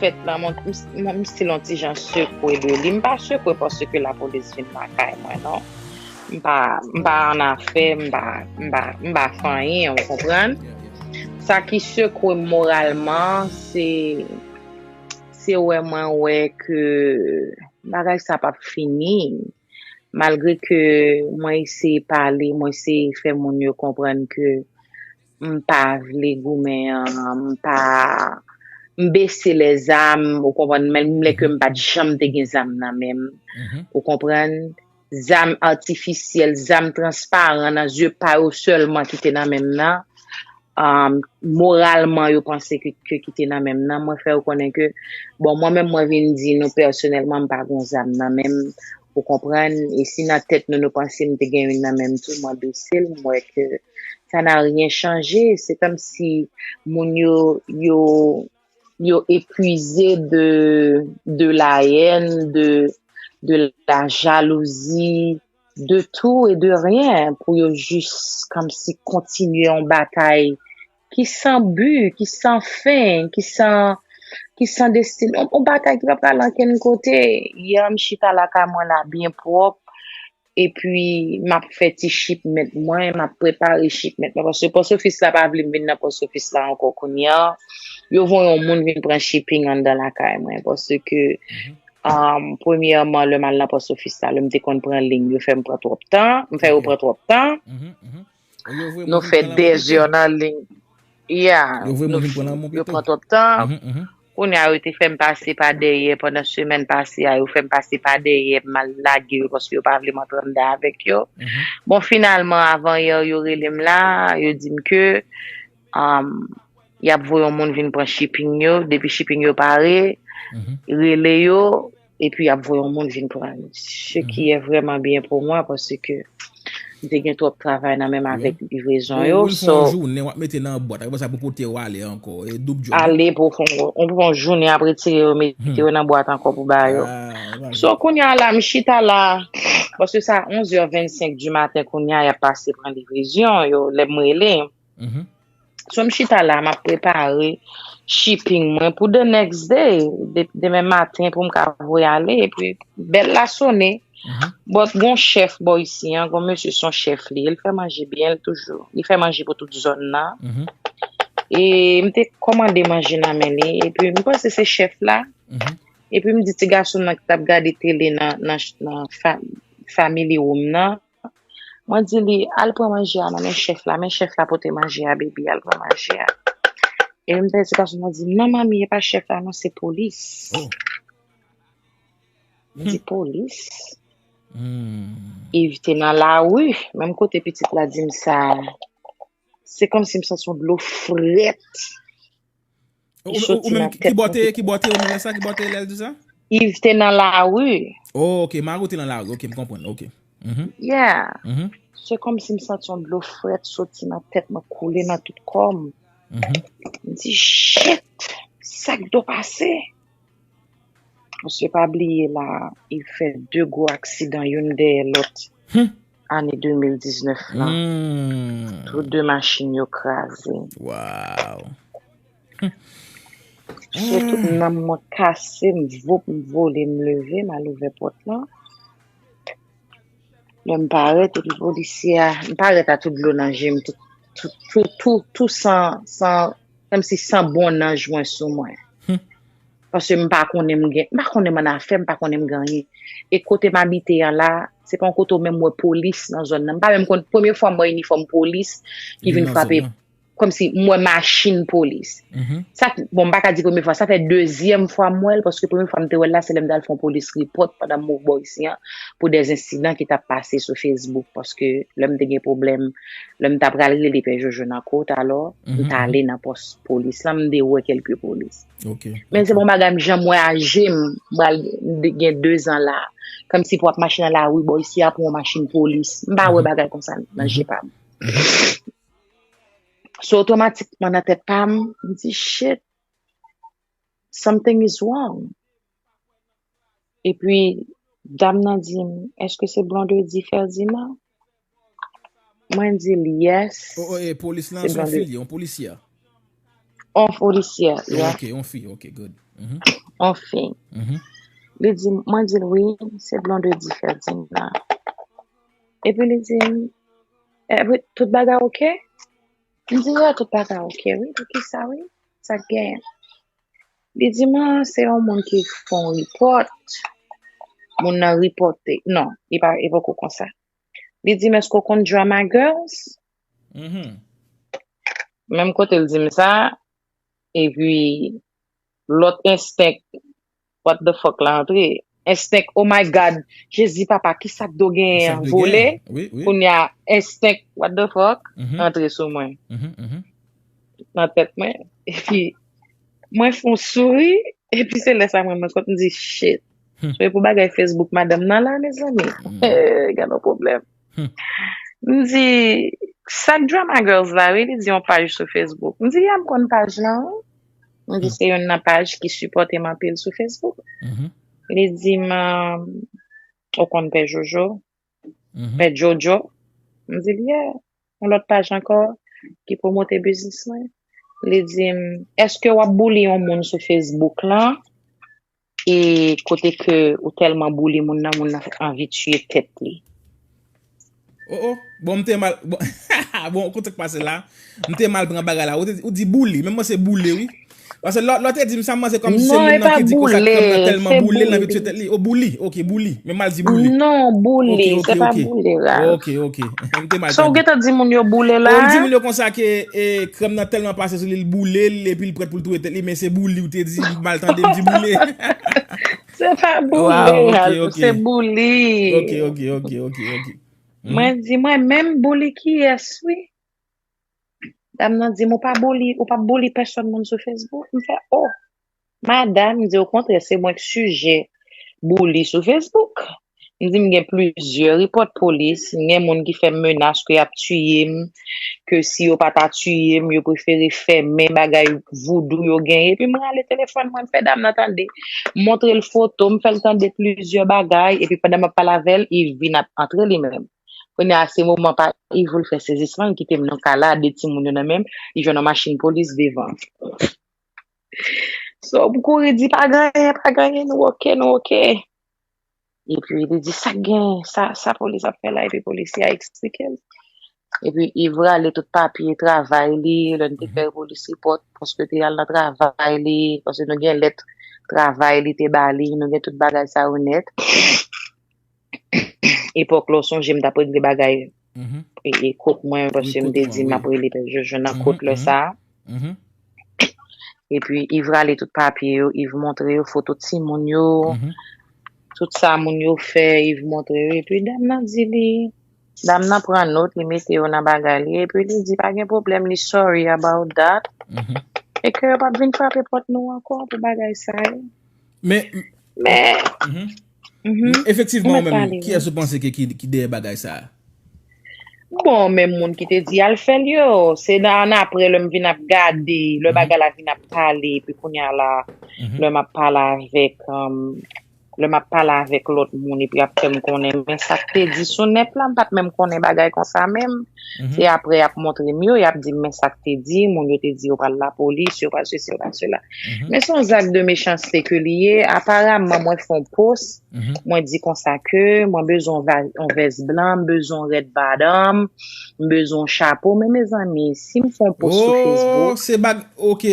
fèt lan mwen mwen m stil yon ti jan sekwe de li, m pa sekwe paske lapolis vin lakay mwen non, m pa m pa annafè, m pa m pa m pa fè anyen ou konprann, sa ki sekwe m moralman se se wè mwen wè ke bagay sa p ap fini malgre ke mwen eseye pale, mwen eseye fè moun yo konprann ke. m pa vle goumen an, m pa, m bese lè zam, ou konprann, menm lè ke m pa t janm te gen zam nan men m, ou konprann, zam atifisyèl, zam transparan nan zye pa yo sèlman ki te nan men m nan, moralman yo panse ke ki te nan men m nan, mwen fè yo konnen ke, bon mwen menm mwen vin di nou pèsonèlman m pa gen yon zam nan men m, ou konprann, e si nan tèt nou nou panse m te gen youn nan men m tou, mwen bese l, m wè ke. sa n'a rien chanje se kòm si moun yo yo yo epuize de de la èn de de la jalouzi de tou e de ryen pou yo jis kòm si kontinye yon batay ki san bi ki san fen ki san ki san desti yon batay ki pa pral ankenn kote yè m chita lakay mwen la byen pwòp epi m ap fè ti shipment mwen, m ap prepare shipment mwen paske pòs ofis la pa vle m vin nan pòs ofis la ankò kounye a. Yo voye yon moun vin pran shipping anndan lakay mwen paske premyèman lè m al nan pòs ofis la lè m te konn pran liy yo fè m pran twòp tan, m fè yo pran twòp tan. Nou fè 2 heures nan ligne. Yeah, nou fin. Yo pran twòp tan. Kounye a yo te fè m pase pa dèyè pandan semèn pase a, yo fè m pase pa dèyè, m al lage yo paske yo pa vle m antre anndan avèk yo. Bon finalman avanyè yo rele m la, yo di m ke y ap voye yon moun vin pran shipping yo, depi shipping yo pare, rele yo. epi y ap voye yon moun vin pran li, se ki è vrèman byen pou mwen paske m te gen twòp travay nan menm avèk livrezon yo. Ou fè yon jounen w ap mete nan yon bwat, aprè sa pou pote yo ale ankò, e doub djòb wi. Ale pou fè yon jounen ap retire yo mete yo nan bwat ankò pou ba yo. So kounye a la m chita la, paske sa 11 è 25 di maten kounye a y ap pase pran livrezon yo, lè m rele. So m chita la map prepare shipping mwen pou the next day, demen maten pou m ka voye ale epi bèl la sone but gon chèf bò isi an, gon mesye son chèf li, el fè manje byen l toujou, li fè manje pou tout zòn nan e m te kòmande manje nan men li epi m panse se chèf la epi m di ti gason m nan ki tap gade tele nan family room nan. Mwen di li, al pran manje a nan men chèf la, men chèf la pote manje a, Baby al pran manje a. E m pèdi pasyon mwen di, non manmi e pa chèf la non se polis. M di polis? Iv te nan lari, menm kote pitit la di m sa a, se kòmsi m santi yon dlo frèt Ou menm ki bote, ki bote ou menm lè sa, ki bote lè l di sa? Yves te nan la rue. Oh ok, Mari w te nan la rue, ok m konprann, ok. Yeah. Se kòm si m santi yon dlo frèt soti nan tèt mwen koule nan tout kò m. M di shit! Sa k do pase? Mesye pa bliye la, Yves fè 2 gwo aksidan youn dèyè lòt. ane 2019 la tout 2 machin yo kraze waw se tout nanm mwen kase m voup m vole m leve m al ouvè pòt lan lè m parèt epi polisye a m parèt a tout dlo nan jem tout tout tout san san kòmsi san bonnanj mwen sou mwen. Paske m pa konnen m gen, m pa konnen m ann afè, m pa konnen m gen anyen. E kote m abite an la, se pa yon kote w menm wè polis nan zòn nan. M pa menm konn, premye fwa m wè inifòm polis ki vin frape, kòmsi m wè machin polis. Sa, bon m pa ka di premye fwa, sa fè dezyèm fwa m wè l, paske premye fwa m te wè l la, se lè m t al fè yon polis repòt pandan m mouvman isi an, pou dè ensidan ki t ap pase sou Facebook. Paske lè m te gen pwoblèm, lè m ta pral rele Pè Jojo nan Côte alors, m t ale nan pòs polis lan, m te wè kèlke polis. Men se bon bagay m janm wè aje m, m pral gen dezan la. Kòmsi pou w ap mache nan lari bò isi a pou yon machin polis. M pa wè bagay konsa nan je pa m. So otomatikman nan tèt pa m, m di, Shit! Something is wrong. Epi dam nan di m, eske se Blondedy Ferdinand? Mwen di l, yes, se Blondedy. E polis lan se yon fi li, yon polisyè? Yon polisyè, yeah. Ok, yon fi, ok, good. Yon fi. Li di m, mwen di l, wi, se Blondedy Ferdinand. Epi li di m, epi tout bagay ok? M di, yeah, tout bagay ok, wi, poukisa, wi, sa k genyen? Li di mwen se yon moun ki fon report, moun nan reporte, non, li pa e poko konsa. Li di m eske w konn Drama Girls? Mhm. Menm kote l di m sa, epi lòt enstenk what the fuck la antre. Enstenk oh my God jezi papa kisa kdo genyen an vole kounya enstenk what the fuck antre sou mwen nan tèt mwen epi mwen fon souri epi se lè sa mwen mwen kont m di shit se pou bagay Facebook madanm nan la mezanmi gen yon pwoblèm. M di, Sa k Drama Girls la wi? Li di, Yon paj sou Facebook. M di, Ya m konn paj lan wi. M di, Se youn nan paj ki sipòte m anpil sou Facebook. Li di m, Ou konn Pè Jojo? Pè Jojo? M di l, Ya, yon lòt paj ankò ki pwomote biznis mwen. Li di m, Èske w ap bouli yon moun sou Facebook lan? E kote ke ou telman boule moun nan, moun nan anvi tiye tet li. Oh oh bon m te mal bon haha bon kout sak pase la m te mal pran bagay la ou di boule men m panse boule wi pase lè w te di m sa m panse kòm si se moun nan ki di kout sak moun nan tèlman boule l anvi tiye tèt li oh boule ok boule men m mal di boule ok ok ok ok ok m te mal tande oh ou di moun yo konsa ke krèm nan tèlman pase sou li l boule l epi l prèt pou l. Ou dwe tèt li men se bouli ou te di m mal tande m di boule. Se pa boule Hazel se bouli. Ok ok ok ok ok. Mwen di mwen menm bouli kiyès wi. Dam nan di m ou pa bouli ou pap bouli pèsòn moun sou Facebook m fè oh. Madam m di okontrè se mwen k sijè bouli sou Facebook. M di m gen plizyè repòt polis, m gen moun ki fè m menas ke y ap tiye m, ke si yo pa ta tiye m, yo prefere fèmen bagay voudou yo genyen. Epi m rale telefòn mwen, m fè dam nan tande. M montre l foto, m fè l tande plizyè bagay. Epi pandan m ap pale avè l, Iv vin ap antre li menm. Kounye a, se moman pa Iv pou l fè sezisman, l kite m nan kay la a, de timoun yo nan men m, li jwenn yon machin polis devan. So, m kouri di, Pa genyen, pa genyen, nou oke, nou oke. Epi li di, sa gen, sa polis ap fè la? Epi polisye a eksplike l. Epi Iv rale tout papye travay li, lè n te fè polis repòt, paske l te al nan travay li, paske nou gen lèt travay li te ba li, nou gen tout bagay sa yo nèt. Epòk la, w sonje m t ap regle bagay. Kot mwen, paske m te di m ap rele pè Jojo nan kot lè sa a. Epi Iv rale tout papye yo, Iv montre yo foto timoun yo, tout sa moun yo fè, Iv montre yo. Epi dam nan di li, dam nan pran not, li mete yo nan bagay li, epi li di pa gen pwoblèm, li sorry about that, e ke yo p ap vin frape pòt nou ankò pou bagay sa yo. Men, Efektivman ou menm, kiyès ou panse ki dèyè bagay sa a? Bon, menm moun ki te di al fè l yo, se annapre lè m vin ap gade, lè bagay la vin ap pale, epi kounye a la, lè m ap pale avèk, lè m ap pale avèk lòt moun epi y ap fè m konnen men sa k te di sou nèt la, m pa t menm konnen bagay konsa menm. Se aprè yap montre m yo, yap di m men sa k te di, moun yo te di yo pral lapolis, yo pral sesi, yo pral sela. Men se yon zak de mechanste ke li ye, aparaman mwen fè yon pos, mwen di konsa ke mwen bezwen yon vès blan, m bezwen yon rèd badanm, m bezwen yon chapo, men mezanmi, si m fè yon pos sou Facebook. Oh, se bagy, ok.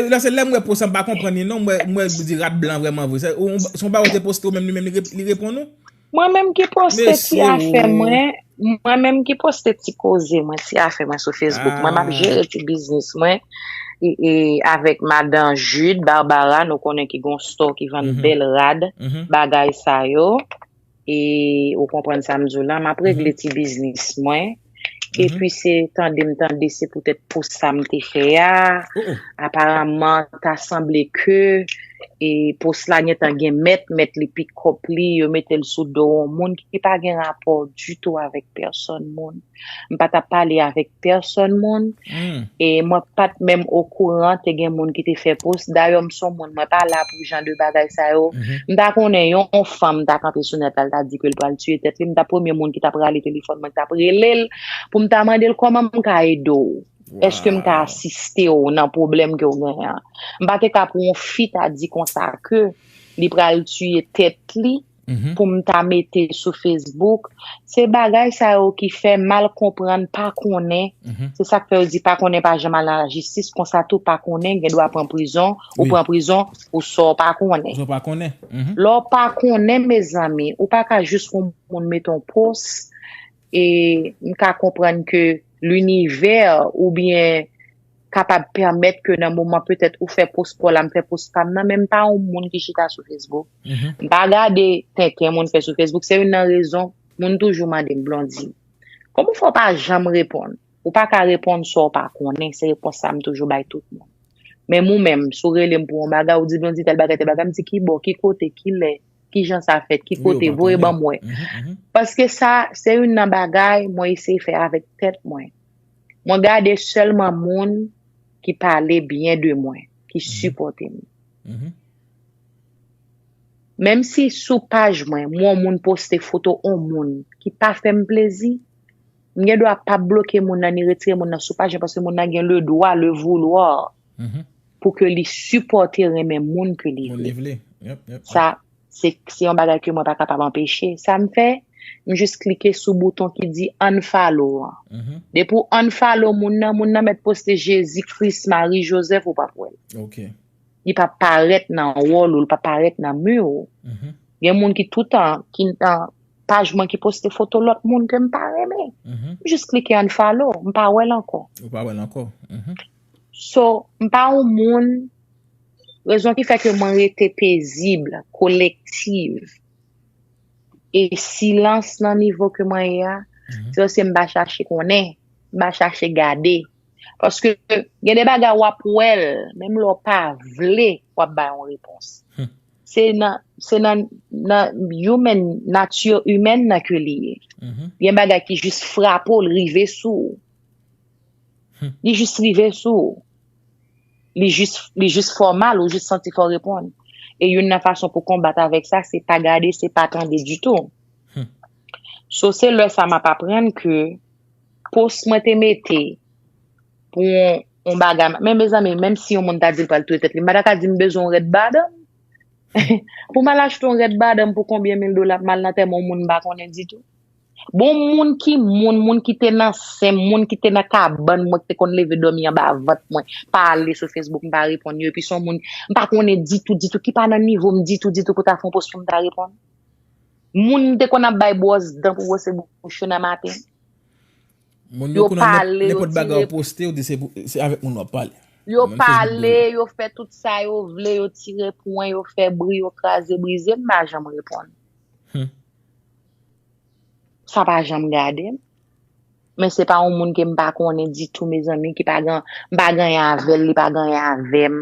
Nan se lè m wè pos an m pa konprann li non, m wè, m wè li di rad blan vrèman vre. Se yon bagay ou te poste ou menm li menm li reponn ou? Mwen menm ki poste ti afè mwen, mwen menm ki poste ti koze mwen, ti afè mwen sou Facebook mwen, map jere ti biznis mwen e avèk madan Jude Barbara nou konnen ki gon store ki vann bèl rad, bagay sa yo e ou konprann sam diw la, map regle ti biznis mwen. epi se tande m tande se poutèt pou sa m te fè a, aparamman ta sanble ke e pos la gentan gen mèt, mèt li pi kòp li, yo mete l sou do on moun ki pa gen rapò ditou avèk pèsòn moun. M pa ta pale avèk pèsòn moun. e mwen pat menm okouran te gen moun ki te fè post dayò m son moun mwen pa la pou jan de bagay sa yo m ta konnen yon fanm ta kanpe sou nèt la l ta di ke l pral tiye tèt li m ta premye moun ki tap rale telefòn mwen k tap rele l pou m ta mande l kòman m ka ede w èske m ka asiste w nan pwoblèm ke w genyen an m pa te ka pou yon fi ta di konsa ke li pral tiye tèt li. pou m ta mete sou Facebook, se bagay sa yo ki fè mal konprann, pa konnen, se sa k fè yo di pa konnen pa janm al nan lajistis, konsa tou pa konnen gen dwa pran prizon, ou pran prizon pou sa w pa konnen. Lè w pa konnen mezanmi, ou pa ka jis wè yon moun mete yon post, E m ka konprann ke linivè ou byen kapab pèmèt ke nan moman petèt ou fè pos paw la m fè pos pam nan men m pa yon moun ki chita sou Facebook. M pa gade tenten moun fè sou Facebook. Se youn nan rezon moun toujou mande m Blondine, kòman ou fè w pa janm reponn? Ou pa ka reponn sa w pa konnen. Se repons sa m toujou bay tout moun. Menm ou menm, si w rele m pou yon bagay, ou di Blondine tèl bagay, tèl bagay, m di kibò, ki kote, kilè. ki jan sa fèt, ki kote, voye ban mwen. Paske sa, se youn nan bagay mwen eseye fè avèk tèt mwen. Mwen gade sèlman moun ki pale byen de mwen, ki sipòte m. Menm si sou paj mwen, m wè yon moun poste foto yon moun ki pa fè m plezi, m gen dwa pa bloke moun nan ni retire moun nan sou paj mwen paske moun nan gen le dwa, le vouloir, pou ke li sipòte renmen moun ke li vle. Sa, se yon bagay ke mwen pa kapab anpeche. Sa m fè, m jis klike sou bouton ki di unfollow an. Depi w unfollow moun nan, moun nan mèt poste Jezi, Kris, Mari, Jozèf, ou pap wè l. Li pap parèt nan wòl ou, li pap parèt nan mi ou. Gen moun ki toutan, ki nan paj mwen ki poste foto lòt moun ke m pa renmen. M jis klike unfollow, m pa wè l ankò. So, m pa yon moun, rezon ki fè ke mwen rete pezib, kolektiv, e silans nan nivo ke mwen ye a, se paske m pa chache konnen, m pa chache gade. Paske gen de bagay w ap wè l, menm lè w pa vle, w ap bay yon repons. Se nan, se nan, nan human, nature humaine nan ke li ye. Gen bagay ki jis frape w, li rive sou ou. Li jis rive sou ou. Li jis fè w mal, ou jis santi fò w reponn. E youn nan fason pou konbat avèk sa, se pa gade, se pa tande ditou. So se lè sa m ap aprann ke post mwen te mete pou yon bagay, men mezanmi, menm si yon moun ta di l pral touye tèt li, m pa ta ka di m bezwen yon rèd badanm. Pou m al achte yon rèd badanm pou konbyen mil dola, pou m al nan antèman yon moun m pa konnen ditou? Bon moun ki moun, moun ki te nan sen m, moun ki te nan kabann mwen, ki te konn leve dòmi anba vant mwen, pa ale sou Facebook, m pa reponn yo, epi son moun m pa konnen ditou, ditou, ki pa nan nivo m ditou, ditou pou ta fè yon post pou m ta reponn. Moun m te konn ap bay bwòs dan pou bwose bouch yo nan maten. Moun yo kounye a nenpòt bagay ou poste yo di se avèk moun wap pale. Yo pale, yo fè tout sa yo vle, yo tire pwen, yo fè bri, yo kraze brize, m pa janm reponn. sa pa janm gade m, men se pa yon moun ke m pa konnen ditou mezanmi, ki pa gen, m pa genyen avè l, li pa genyen avè m,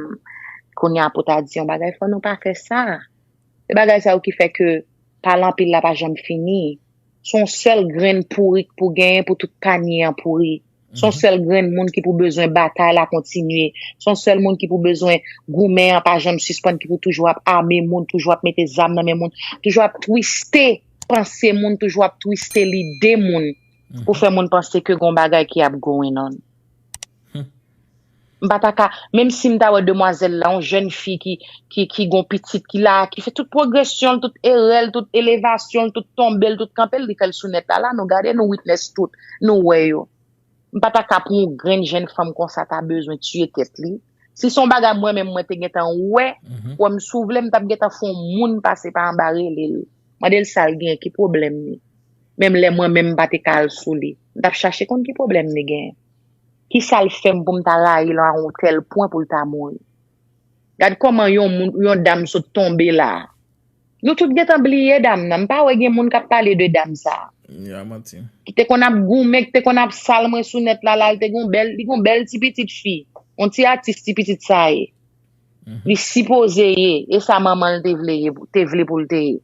kounye a pou ta di yon bagay, fò nou pa fè sa. Se bagay sa yo ki fè ke pale anpil la pa janm fini. Se yon sèl grenn pouri k pou genyen pou tout panye an pouri. Son sèl grenn moun ki pou bezwen batay la kontinye. Son sèl moun ki pou bezwen goumen an pa janm sispann ki pou toujou ap ame moun, toujou ap mete zam nan men moun, toujou ap twiste panse moun, toujou ap twiste lide moun pou fè moun panse ke gon bagay ki ap going on. M pa ta ka, menm si m ta wè demwazèl la, yon jèn fi ki, ki, ki gon pitit, ki la, ki fè tout pwogresyon l, tout erè l, tout elevasyon l, tout tonbe l, tout kanpe l, li fè l sou nèt la. La nou gade, nou witness tout, nou wè yo. M pa ta ka pou yon grenn jèn fanm konsa ta bezwen tiye tèt li. Si se yon bagay mwen menm mwen te gentan wè, kwè m si w vle, m t ap gentan fè yon moun pase pa anba rele l, mande l sa l gen, ki pwoblèm li. Menm lè mwen menm m pa te ka al sou li. M t ap chache konn ki pwoblèm li gen. Ki sa l fè m pou m ta rayi l a yon tèl pwen pou l ta mouri? Gad kòman yon moun, yon dam sot tonbe la a. Nou tout gen tan bliye dam nan. M pa wè gen moun k ap pale de dam sa a. Ya manti. Ki te konn ap goumen, ki te konn ap sal mwen sou nèt la, la l te gen yon bèl, li gen yon bèl ti pitit fi. Yon ti atis ti pitit sa ye. Li sipoze ye, e sa manman l te vle ye, te vle pou l te ye.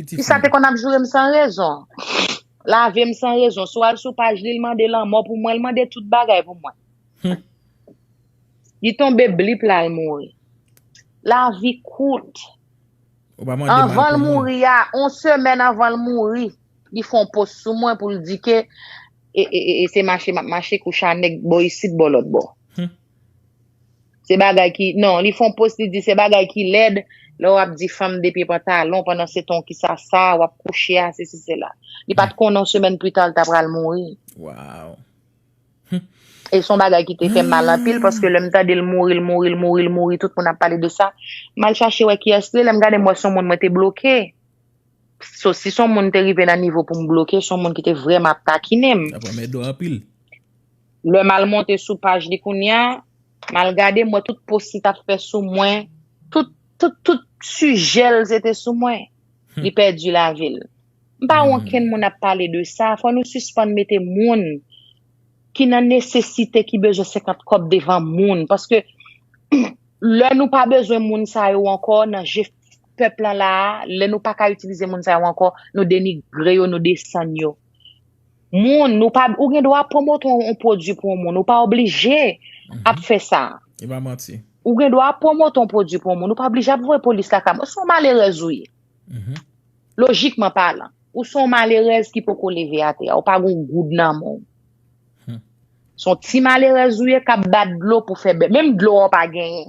Ti sa te konn ap joure m san rezon. Lave m san rezon. Si w al sou paj li, l mande lanmò pou mwen. L mande tout bagay pou mwen. Li tonbe blip la, l mouri. Lavi kout. Anvan l mouri a, yon semèn anvan l mouri, li fè yon post sou mwen pou l di ke e se mache m ap mache kou cha nèg bò isit bò lòtbò. Se bagay ki, non, li fè yon post li di se bagay ki lèd lè w ap di fanm de pye pantalon pandan se ton ki sa sa w ap kouche a sesi sela. Li pa t konnen yon semèn pli ta l ta pral mouri. Waww. E s on bagay ki te fè m mal anpil paske lè m tande l mouri l mouri l mouri l mouri tout moun ap pale de sa m al chache wè kiyès li ye lè m gade m wè s on moun mwen te bloke. So si s on moun te rive nan nivo pou m bloke s on moun ki te vrèman ap takinen m. Sa pran mèt dò anpil. Lè mal monte sou paj li kounya mal gade mwè tout post li tap fè sou mwen tout tout tout sijèl se te sou mwen li pèdi lavil mpa wè okenn moun ap pale de sa fò nou sispann mete moun ki nan nesesite ki bezwen 50 kòb devan moun paske lè nou pa bezwen moun sa yo ankò nan je pèp lan la lè nou paka itilize moun sa yo ankò nou denigre yo nou desann yo. moun, nou pa, ou gen dwa pwomote yon pwodwi pou yon moun, ou pa oblije ap fè sa. E pa manti. Ou gen dwa pwomote yon pwodwi pou yon moun, ou pa oblije ap voye polis lakay moun. Son malerèz ou ye. Lojikman palan, ou son malerèz ki poko leve atè a, ou pa gon goud nan men w. Son ti malerèz ou ye k ap bat dlo pou fè bè. Menm dlo a ou pa genyen.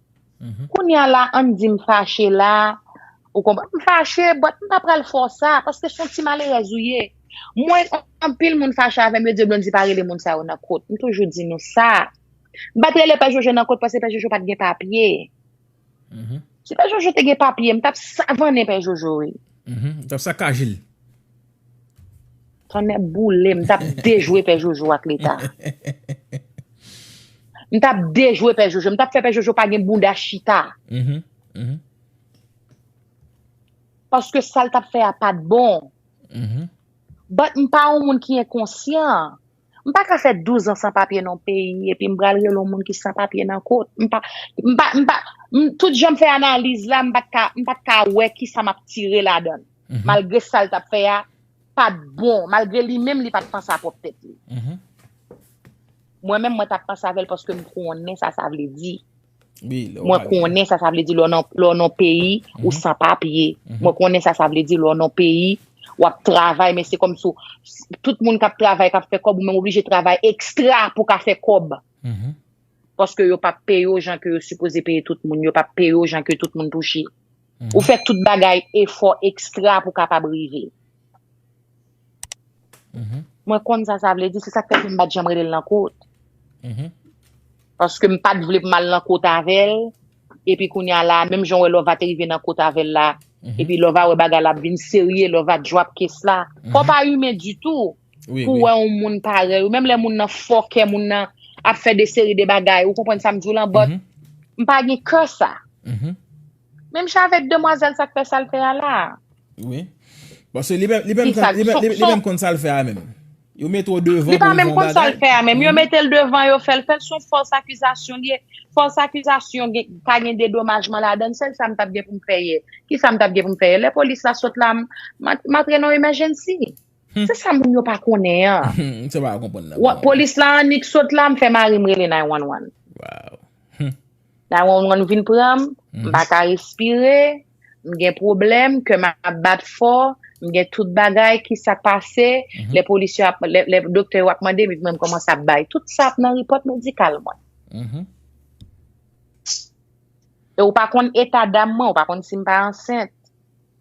Kounya la ann di m fache la, ou konprann, m fache but m pa pral fè w sa paske son ti malerèz ou ye. Mwen anpil moun fache avè m yo di yo Blondy pa rele moun sa yo nan kot. M toujou di nou sa. M pat rele Pè Jojo nan kot paske Pè Jojo pat gen papye. Si Pè Jojo te gen papye m tap savannen Pè Jojo wi. M tap sakaje l. Tonnè boule m tap dejwe pè jojo ak leta. M tap dejwe pè jojo m tap fè pè jojo pa gen bouda chita. Paske sal tap fè a pat bon. But m pa yon moun ki enkonsyan. M pa ka fè 12 an san papye nan yon peyi epi m pral rele yon moun ki san papye nan kot. M pa, m pa, m pa, m, tout jan m fè analiz la, m pa t ka, m pa t ka wè ki sa m ap tire ladan l. Malgre sa l t ap fè a pa t bon, malgre li menm li pa t panse a pwòp tèt li. Mwen menm mwen t ap panse avè l paske m konnen sa sa vle di. Mwen konnen sa sa vle di lè w nan peyi ou san papye. Mwen konnen sa sa vle di lè w nan peyi w ap travay men se kòm si w, tout moun k ap travay, k ap fè kòb ou menm oblije travay ekstra pou w ka fè kòb. Paske yo pa peye w jan ke yo sipoze peye tout moun. Yo pa peye w jan ke tout moun touche. Ou fè tout bagay efò ekstra pou kapab rive. Mwen konn sa sa vle di, se sak fè ke m pat janm rele l nan kot. Paske m pat vle pou m al nan kot avè l, epi kounya la, menm jan w wè Lova te rive nan kot avè l la, epi Lova wè bagay la ap vin serye, Lova drop kiss la. Fò w pa imen ditou. Wi, pou wi. wè yon moun parèy ou, menm lè moun nan fòkè, moun nan ap fè de seri de bagay, ou konprann sa m di w lan, but Mhm. m pa gen kè sa. Mhm. Menm jan avèk demwazèl sa k fè sa l fè a la a. Wi. Paske li menm, li menm Ki konn, sa? li menm, Son, li, li son, menm konn sa l fè a menm. Yo mete w li devan pou pa w di menm yon konn sa l bagay. fè a menm. Yo Mhm. mete l devan, yo fè l fè l, son fòs akizasyon li ye. Fòs akizasyon gen, ka gen dedomajman ladan l, sèl sa m t ap gen pou m fè yè. Ki sa m t ap gen pou m fè yè? Lè polis la sot la, m, m ap, m ap antre nan emergency. Se sa moun yo pa konnen an. M se pa konprann nan bon. Polis la annik sot la m fè mari m rele 911. Waw. 911 vin pran m, m pa ka respire, m gen pwoblèm, kè m ap bat fò, m gen tout bagay ki sa k pase, lè polis yo ap, lè doktè yo ap mande m epi mwen m kòmanse ap bay. Tout sa ap nan repòt medikal mwen. E ou pa konn eta dam mwen, ou pa konn si m pa ansent.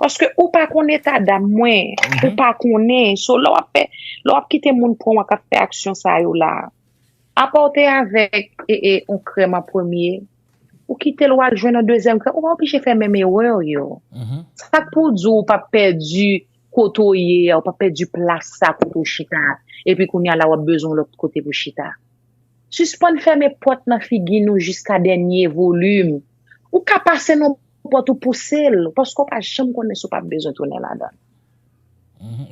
Paske ou pa konn eta dam mwen, ou pa konnen. So lè wap fè, lè wap kite moun pran w ak ap fè aksyon sa yo la. Apa w te avèk yon krèm an premye, ou kite l wal jwenn yon dezyèm krèm, ou pa oblije fè menm erè yo. Sak pou w di w pap pèdi kote w ye a, ou pap pèdi plas sa kote w chita a, epi kounya la wap bezwen yon lòt kote pou chita. Sispann fèmen pòt nan figi nou jiska dènye volim. Ou ka pase nan. pòt ou pouse l paske ou pa janm konnen si ou pap bezwen tounen ladan l.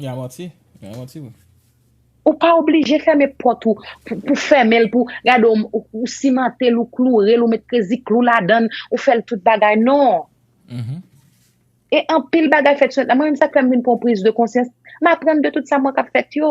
Ya manti, ya manti wi. Ou pa oblije fèmen pòt ou pou fèmen l pou gade ou simante l ou kloure l ou met krezi klou ladan l ou fè l tout bagay non. E anpil bagay fèt sou nèt la mwen menm sa k fè m vin pran priz de konsyans m aprann de tout sa mwen k ap fèt yo.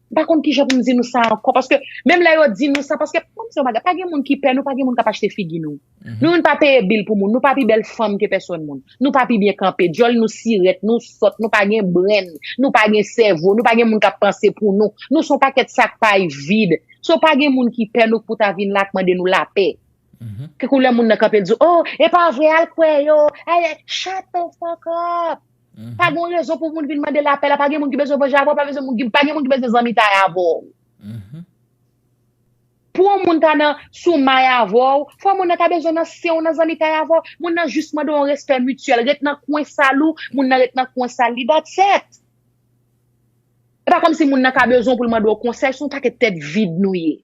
M pa konn kijan pou m di nou sa ankò paske menm lè yo di nou sa paske pou m di yon bagay pa gen moun ki pè nou pa gen moun k ap achte figi nou. Nou menm pa peye bil pou moun nou pa pi bèl fanm ke pèsòn moun nou pa pi byen kanpe dyòl nou sirèt nou sòt nou pa gen brenn nou pa gen sèvo nou pa gen moun k ap panse pou nou nou s on pakèt sak pay vid so pa gen moun ki pè nou k pou ta vin la k mande nou lapè ke kou lè moun nan kanpe l di w oh e pa vre al kwè yo ayy shut the fuck up. Pa gen yon rezon pou moun vin mande lapè la, pa gen moun ki bezwen vanje avè w, pa gen moun ki bezwen zanmitay avè w. Pou yon moun ta nan sou may avè w, fò moun nan ta bezwen nan sen w, nan zanmitay avè w. Moun nan jis mande w yon respè mityèl, ret nan kwen sal ou, moun nan ret nan kwen sal li, that's it. E pa kòmsi moun nan ka bezwen w pou l mande w konsèy, se yon pakèt tèt vid nou ye.